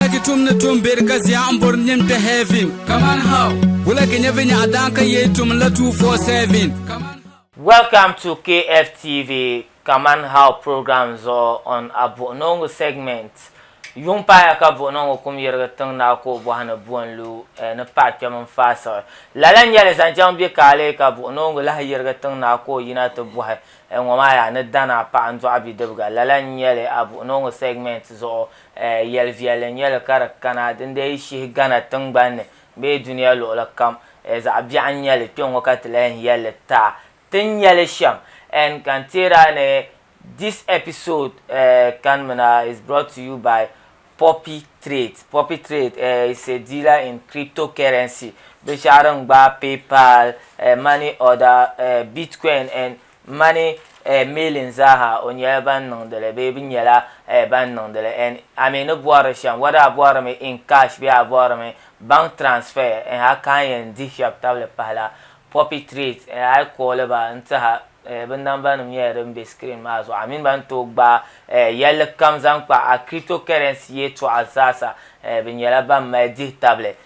Wulagi tum ni tum beri ka zia n bori nim kpɛ heaven. Kaman how? Wulagi nyɛ vi nyaɣa daan ka yee tum la 247. Kaman how? Welcome to KFTV Kaman How program zuɣu on a Buɣunongo segment. Yuŋ paaya ka Buɣunongo kum yirigi tiŋ naɣi ka o bɔhi ni buɣun lu eh, ni paɣa kpɛm n faai siɣi. Lala n nyɛli zaŋ chaŋ bɛ kaali ka Buɣunongo lahi yirigi tiŋ naɣi ka o yina ti bɔhi eh, ŋɔ maa yaa ni dana paɣa n dɔɣi bidibiga. Lala n nyɛli a Buɣunongo segment zuɣu Yɛl viɛlli n-nyɛ li ka di kana din dii shihi Ghana tiŋgbani ni bee dunia luɣili kam. Zaɣ biɛɣu n-nyɛ li kpe ŋɔ ka ti lahi yɛl li taa ti ni nya li shɛm. N ka n teeri a ni This episode kanimina is brought to you by Poppy Trade. Poppy Trade is a dealer in cryptocurrency, binshɛɣu din gbaai PayPal, money order, Bitcoin and Mani eh miilin zaaha o nyɛla ban niŋdili bee bi nyɛla eh ban niŋdili en a mi ni bɔhiri shɛm whether a bɔhirimi in cash bee a bɔhirimi bank transfer eh a ka yɛn dihi shɛb tabili pahila poppy treat eh a yi kooli ba n tiha eh bi namba nim nyɛla din be screen maa zuɣu a mini ba ni tooi gbaai eh yɛlli kam zaŋ kpa a cryptocurrency yɛltɔɣa zaasa eh bi nyɛla ban mali dihi tabili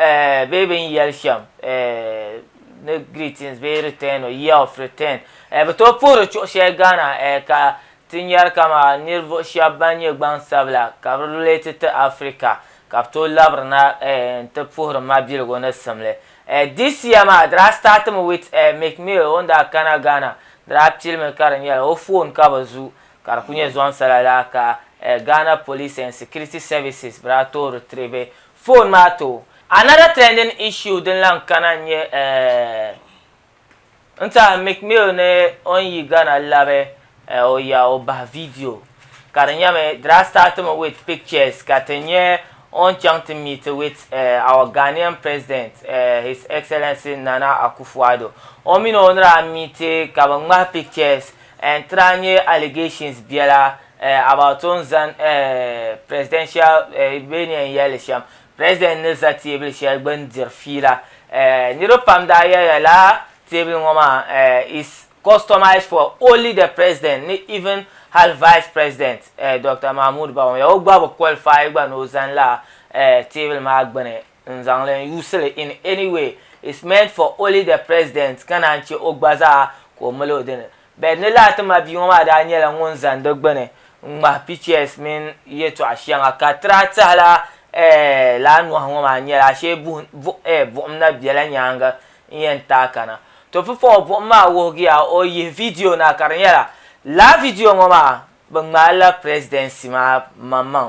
Eh, bee bɛ ni yɛli shɛm eh, ni greetings bee return or year of return eh, bɛ tooi puhiri chuɣu shɛli Ghana eh, ka ti nyari kama nirivuɣu shɛba ban nyɛ gbaŋsabila ka bi relate ti Africa ka bɛ tooi labiri na eh, n-ti puhiri mabiligu ni simli eh, this year maa di daa start mi with eh, Meek Mill o ni daa kana Ghana di daa pili mi ka di nyɛla o phone ka bɛ zu ka di kuli nyɛ zuaŋsala lala ka eh, Ghana Police and Security Services bɛ daa tooi retrieve Phone maa too. Another trending issue din lan kana n-nyɛ eh n tiɛhi Meek Mill ni o ni yi Ghana labi eh o ya o bahi video ka di nyɛmi di daa start mi with pictures ka ti nyɛ o ni chaŋ ti meeti with eh our Ghanaian President eh His Excellency Nana Akufo-Addo. O mini o ni daa meeti ka bɛ ŋmahi pictures n tra nye allegations biela eh about o ni zan eh presidential eh bee ni yen yelli shem president ni za teebuli sheli gbuni diri fiila eh niriba pam daa yeliya lala teebuli ŋo maa eh is customized for only the president ni even hal vice president eh Doctor Mahmoud Bawumia o gba bi qualify gba ni o zani lala eh teebuli maa gbuni n zaŋli n yuusili in any way it's meant for only the president ka naan che o gba zaa ka o mali o dini but ni lahi ti ma bia ŋɔ maa daa nyɛla ŋun zan di gbuni n ŋmahi pictures mini yɛtɔɣa shɛŋa ka tira tɛhila eh, laa nɔhi ŋɔ maa nyɛla ashee buhi bu, eh, buɣim na bela nyaanga n yɛn taai kana to pipaɣu buɣim maa wuhigiya o yihi video na ka di nyɛla laa video ŋɔ maa bɛ ŋmaali la presidency maa maŋmaŋ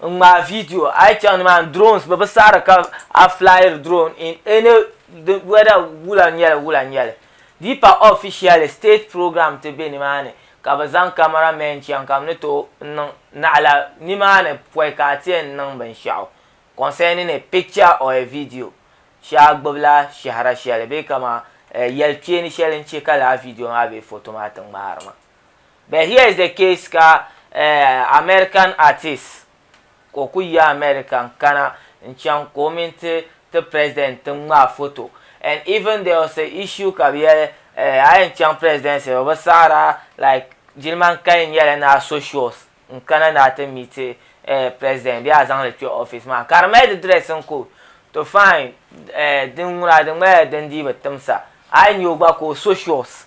n ŋmaai video a yi chaŋ ni maa ni drones bɛ bi saɣiri ka a flyiri drone in any di whether wula nyɛli wula nyɛli di pa officially state program ti be ni maa ni ka bɛ zaŋ camera men chaŋ ka bɛ ni tooi niŋ naɣila ni maa ni pɔi ka a ti yɛn niŋ binshɛɣu concerning a picture or a video shee a gbubi la shɛhira shɛli bee kaman yɛli kpeeni shɛli n che ka lala video maa bee photo maa ti ŋmaari ma. but here is the case ka uh, American artist ka o ku yi America n kana n chaŋ ka o mini ti ti president ti ŋmaa foto and even there was a issue ka bi yɛli uh, a yɛn chaŋ presidency o bi saɣara like jiliman kali nyɛla ni a so shows n kana ni a ti miti uh, president bee a zaŋli kpɛ office maa ka di mali di dress n ku to fine uh, din ŋuna di ŋmalila din dii bi timsa a yi nyɛ o gba ka o so shows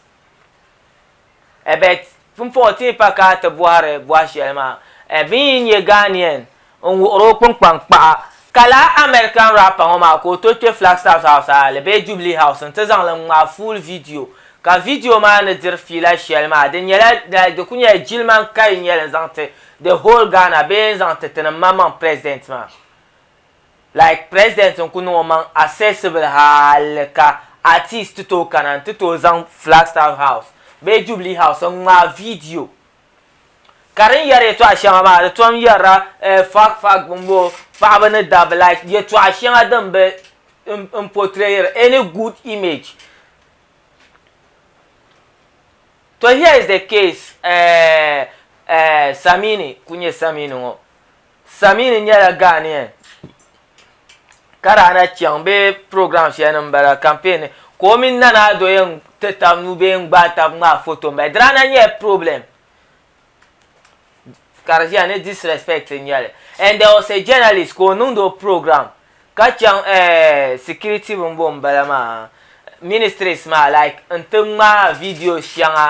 Ebert pumpɔŋɔ ti ni pa ka ti bɔhiri bɔhi shɛli maa, Ebin yi nyɛ Ghanaian n wuhiri o kpunkpani kpaɣa ka lala American rapper ŋɔ maa ka o tooi kpe Flagstaff House Aale bee Jubilee House n-ti zaŋ li ŋmaai full video ka video maa ni diri fiila shɛli maa di nyɛla like di kuli nyɛla jilima n-kali n-nyɛli n-zaŋ ti the whole Ghana bee n-zaŋ ti ti ni maŋmaŋ President maa. Like president n ku niŋ omaŋ accessible hali ka artist ti tooi kana n ti tooi zaŋ Flagstaff house bee Jubilee house n ŋmaai video ka din yɛri yɛtɔɣa shɛŋa maa di tom yɛrila eh fuck fuck bomboo paɣaba ni dabba like yɛtɔɣa shɛŋa din bi n portrayiri any good image to here is the case eh eh Samini ku nyɛ Samini ŋɔ Samini nyɛla Ghanaian ka daa na chaŋ bɛ program shɛli ni m-bala campaign ni ka o mini Nana Addo yɛn ti tab nuu bee n-gbaai tab ŋmaai foto m-bala. Di daa na nyɛla problem ka di ʒiya ni disrespect n-nyɛ li and there was a journalist ka o niŋdi o program ka chaŋ eh security bini bɔŋ m-bala maa ministries maa like n-ti ŋmaai videos shɛŋa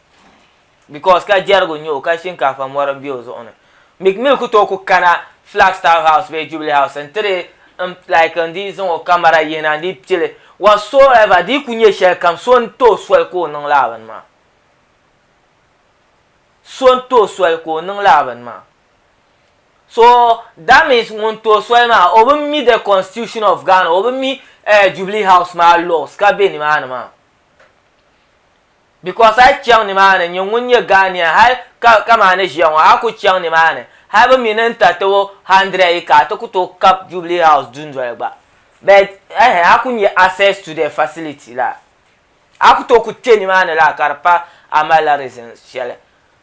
because ka jɛrigu n-nyɛ o ka shinkaafa mɔri m-be o zuɣu ni. Meek Mill ku tooi ku kana Flagstaff House bee Jubilee House n-ti di n like n dii zaŋ o camera yihi na n dii pil li whatsoever di yi ku nyɛ shɛlikam so n-tooi soli ka o niŋ lala bini maa. So n-tooi soli ka o niŋ lala bini maa. So that means ŋun tooi soli maa o bi mi the constitution of Ghana o bi mi eh Jubilee House maa laws ka be nimaani maa. Because a yi chaŋ nimaani nyini ŋun nyɛ Ghanaian hali ka kaman a ni ʒiya ŋɔ a ku chaŋ nimaani hali bɛ mi ni n-ta ti o hundred yi ka a ti ku tooi kab Jubilee House dundoli gba but ehe a ku nya access to the facility laa a ku tooi ku kpe nimaani laa ka di pa a malila reason shɛli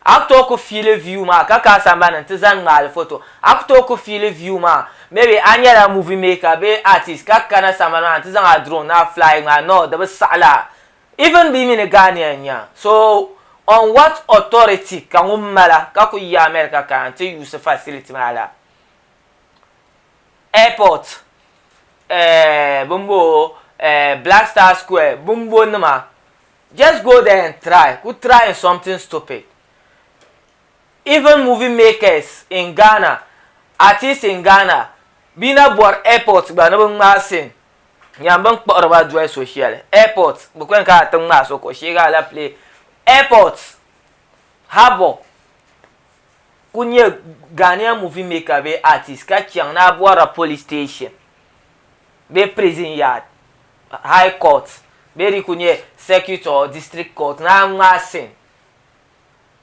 a ku tooi ku fiili view maa ka ka a sambani n-ti zani ŋmaali photo a ku tooi ku fiili view maa maybe a nyɛla movie maker bee artist ka kana sambani maa n-ti zaŋ a drone na fly ŋmaai no di bi saɣi laa. Even bɛ mi ni Ghanaian nya so on what authority ka ŋun mala ka kuli yi America kana n ti use facility maa la airport eh bini bɔɔ eh black star square bini bɔ nima just go there and try kuli try n something stupid even movie makers in Ghana artist in Ghana bɛ yi na bɔri airport gba ni bɛ ŋmaai scene Nyaan bɛ ni kpuɣiri ba doli so shɛli, airport, bɛ kuli ka a ti ŋmaai so kuɣu sheegi alapile, airport, harbour, ku nyɛ Ghanaian movie maker bee artist ka chaŋ ni a bɔrila police station bee prison yard, high court bee di ku nyɛ circuit or district court ni a ŋmaai sin.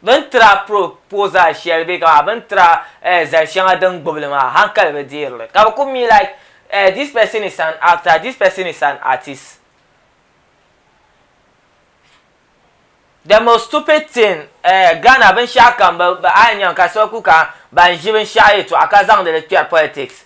Bɛ ni tiri a pro pooi zaa shɛli bɛ ka bɛ ni tiri a eh zali shɛŋa din gbubi li maa hankali bi deeri li ka bɛ ku mi like eh this person is an actor, this person is an artist. The most stupid thing eh Ghana binshɛɣu kam bɛ a yi nya ka so ku ka ban ʒi binshɛɣu yɛtɔɣa ka zaŋdi li kpɛri politics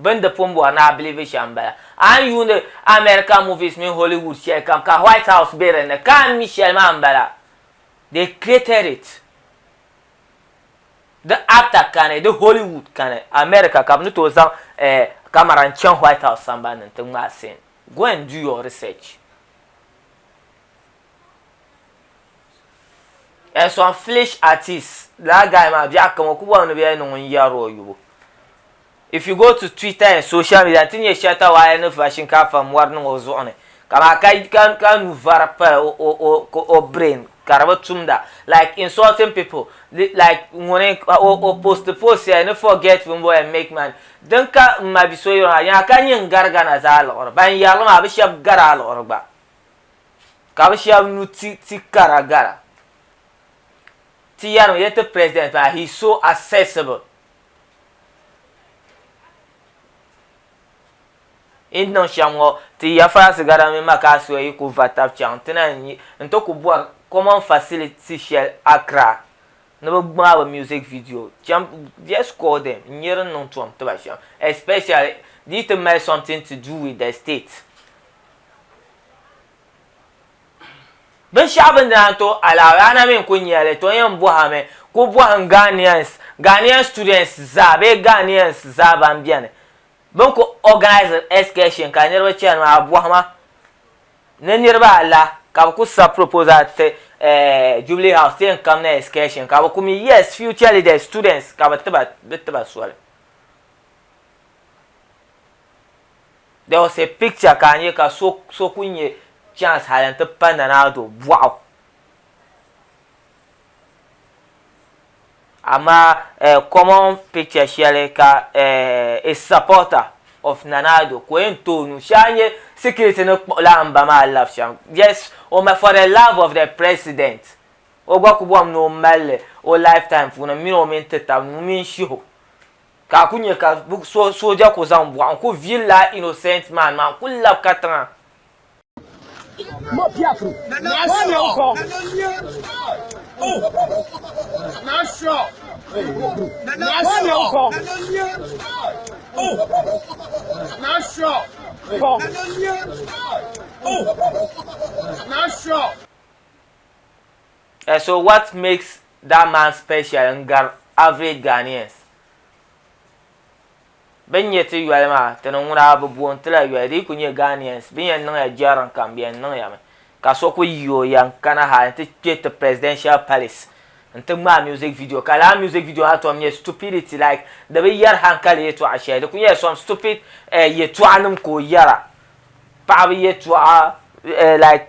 Bɛn di pun bɔri ni a bilivi shɛm m-bala. A ni yuuni American movies mini Hollywood shɛli kam ka White House be dinni ka a ni mi shɛli maa m-bala. They created it. Di actor kani, di Hollywood kani, America ka bɛ ni tooi zaŋ eh camera n-chaŋ White House sambani ni nti ŋmaai scene. Go and do your research. And some flesh artists, lala guy maa biɛɣu kam o ku bɔrimi ni bɛ yɛn niŋ o n-yɛri o yubu. If you go to Twitter and social media n ti nyɛ Shatta Wale ni va shinkaafa mɔri niŋ o zuɣu ni ka maa ka ka a nuu vari pali o o o ka o brain ka di bi tumda like insulting people li like ŋuni ka o o post post shɛli ni forget bin bɔli and make money din ka m ma bi so yuri maa yaa ka nyin gari Ghana zaa liɣiri ban yari li maa bi shɛba gari a liɣiri gba ka bi shɛba nu ti ti kara gara ti yari mi yɛ ti president maa he is so accessible. Yi ni niŋ shɛm ŋɔ, ti ya Faransi gada mini Makaassuɛ yi ku va tab chaŋ ti na n-yi nti ku bɔri common facility shɛli Accra ni bɛ ŋmaai bɛ music video cham, just call them n-nyɛ din niŋ tom ti ba shɛm especially di yi ti mali something to do with the state. Binshɛɣu bɛ ni daa to a la, Ghana mi n-kul nya li, to yɛn bɔh a mi, kul bɔhim Ghanaians, Ghanaian students zaa bee Ghanaians zaa ban beni bɛ ni kul organise excursion ka niriba chani maa, bɔhim a ni niriba ala ka bɛ kul sabi proposal ti eh Jubilee House ti yɛn kamna excursion ka bɛ kul mi yes, future leaders, students ka bɛ ti ba soli. There was a picture ka a nya ka so so kuli nya chance hali n-ti pa Nana Addo bɔɣu. Amaa eh common picture shɛli ka eh a supporter of Nana Addo ka o yɛn ti o nuu shee a nya security ni kpuɣila a mba maa labi shɛm yes o ma for the love of the president o gba kuli bɔhim ni o mali li o lifetime puuni m mini o mini ti taba nuu mini shiho. Ka a ku nya ka sooja ku zaŋ bɔɣu n-ku viil laa innocent man maa n-ku lab ka tiŋa. Eh so what makes that man special n gari average Ghanaians? Bini nyɛ ti yoli maa, ti ni ŋuna bi booni ti la yoli di yi ku nyɛ Ghanaians bini yɛn niŋya jɛriŋ kam di yɛn niŋya mi ka so ku yi o yɛn kana ha n ti kpɛ ti presidential palace n ti ŋmaai music video ka lala music video maa tom nyɛ stupidity like di bi yɛri hankali yɛtɔɣa shɛli di ku nyɛla some stupid eh yɛtɔɣa nim ka o yɛra paɣaba yɛtɔɣa eh like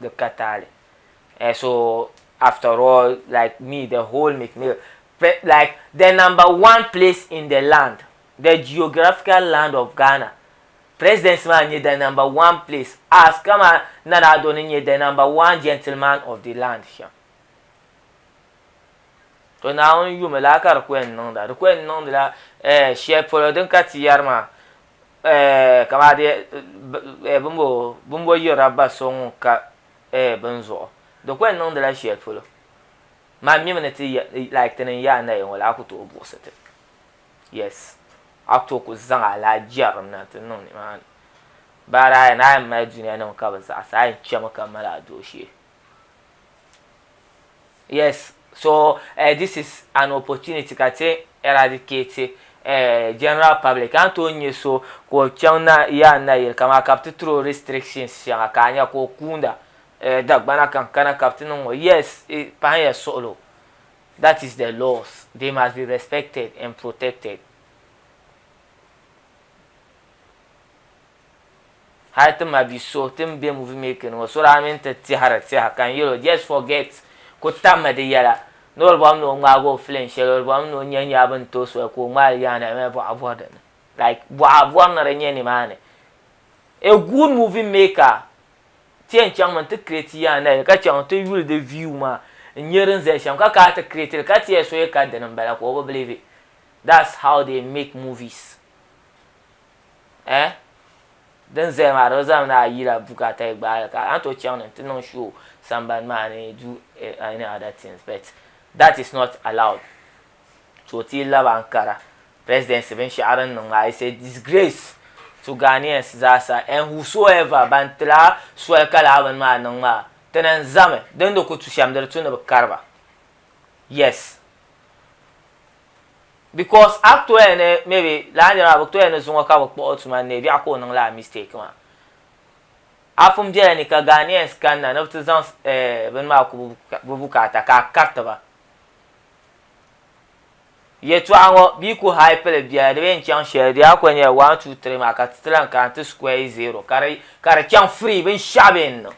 di ka taali eh, so after all like me the whole mcmill like the number one place in the land the geographical land of ghana presidency maa nyɛ the number one place as kama nana ado ni nyɛ the number one gentleman of the land shɛm to naawuni yumi la ka di ku yɛn niŋda di ku yɛn niŋdila eh, shɛli polo din ka ti yɛri maa Kamadi bimbo yirila ba so ŋun ka bini zuɣu. Di ko n niŋdila sheli polo. Man mimi ni ti like ti ni n-ye a naya ŋɔ la a ku tooi buɣisi ti. Yes. A ku tooi kuli zaŋ alaha jɛrim na ti niŋ nimaani. Baara a yɛn a yɛn mali dunianim ka bi zaɣisi a yɛn chemi ka mali a dooshee. Yes, so uh, this is an opportunity ka ti eradicate uh, general public. An tooi nyɛ so ka o chaŋ na yaa nayili ka maa ka bi ti tiro restrictions shɛŋa ka a nya ka o kuunda uh, dagbana kan kana ka bi ti niŋ o. Yes, it pahanya suɣilo. That is the laws. They must be respected and protected. Hali ti ma bi so ti n be movie making ŋɔ so daa mini ti tɛhiri tɛha ka n yɛl o just forget ku tam mi di yɛla ni o di bɔhim ni o ŋmaag o film shɛli o di bɔhim ni o nya nyaa bɛ ni tooi soli ka o ŋmaai li yaana eeh bɔɣa bɔri di ni like bɔɣa bɔri ni di nya nimaani a good movie maker ti yɛn chaŋ mi nti create yaana li ka chaŋ nti yuli di view maa n nya din zaya shɛm ka kana ti create li ka ti yɛli so yi ka di ni m-bala ka o bi believe it that's how they make movies eh din zaya maa di zaa mi ni ayi la bukata yi gbaai ka an tooi chaŋ ni n ti niŋ show sambani maa ni do any other things but that is not allowed to o ti laba n kara presidency binshɛɣu din niŋ maa is a disgrace to Ghanaians zaa sa and whosoever ban ti la soli ka lala bini maa niŋ maa ti na n zami din di ku tu shɛm di di tu ni bi kari ba yes because a toya ni maybe lala niri maa bɛ toya ni zuŋɔ ka bɛ kpuɣi o tuma ni ni biɛɣu ka o niŋ lala mistake maa. A pun biɛla ni ka Ghanaians kanna ni bɛ ti zaŋ eh bini maa ku bɛ bukaata ka a kariti ba. Yɛltɔɣa ŋɔ bɛ yi ku hype li biɛla di bi yɛn chaŋ shɛli di daa kuli nyɛla one two three maa ka ti ti lahi kana ti square zero ka di ka di chaŋ free binshɛɣu bɛ yɛn niŋ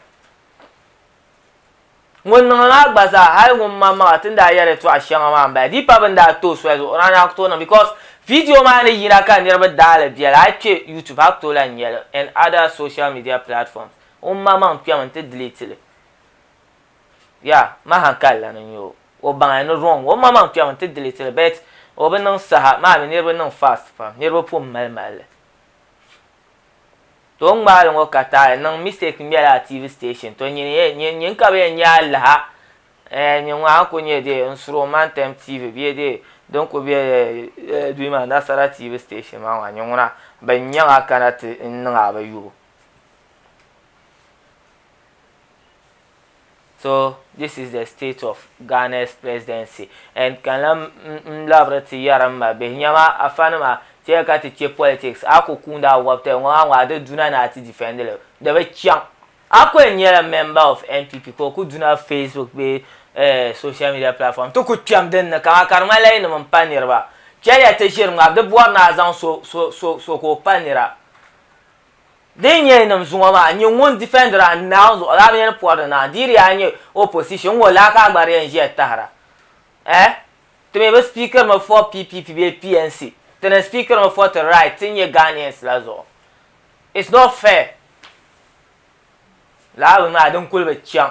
Ŋun niŋdi maa gba zaa hali ŋun maŋmaŋa ti ni daa yɛri tɔɣ shɛŋa maa m-bala di pa bɛ ni daa tooi soli zuɣu o daa ni a ku tooi niŋ because video maa ni yina ka niriba daa li beli a yi kpe YouTube a ku tooi lahi nya li and other social media platforms o maŋmaŋ n-kpɛmi n-ti delete li yeah m ma hankali la ni n-nya o o baŋya ni wrong o maŋmaŋ n-kpɛmi n-ti delete li but o bi niŋ saha maa mi niriba niŋ fast pam niriba pun mali mali li. To ŋmaali ŋɔ ka taali niŋ mistake n bɛla TV station to nyini yɛ nyin nyin ka bɛ yɛn nyɛ alaha eh nyin ŋɔ a ku nyɛ dee n suri o man tɛm TV bɛ dee din ku bɛ eh dui maa nasara TV station maa ŋɔ nyin ŋuna bɛ nyɛ ŋɔ a kana ti n niŋ a bɛ yubu. So this is the state of Ghana's presidency and ka lan n labiri ti yɛri n ma bihi nyama afa nima ti yɛli ka ti kpe politics a ku kuuni a wɔbi tali ŋɔ maa ŋɔ a di duna ni a ti defend li di bi chaŋ a ku yɛn nyɛla member of NPP ka o ku duna Facebook bee eh social media platform ti ku kpɛm din ni kaman ka di ŋmanila yi nim n pa niriba chɛliya ti ʒiri ŋmari di bɔri ni a zaŋ so so so so ka o pa nira. Din nyɛ yi niŋ zuŋɔ maa, n nyɛ ŋun defend ra n naa o zuɣu laa binyɛri pɔri ni naa, di di yaa nyɛ opposition n ŋɔ laa ka a gba di yɛn ʒiya tahira eh? Ti mi bi speakiri mi for PPP bee PNC, ti ni speakiri mi for ti right ti nyɛ Ghanaians la zuɣu. It's not fair. Lala bini maa di n kuli bi chaŋ.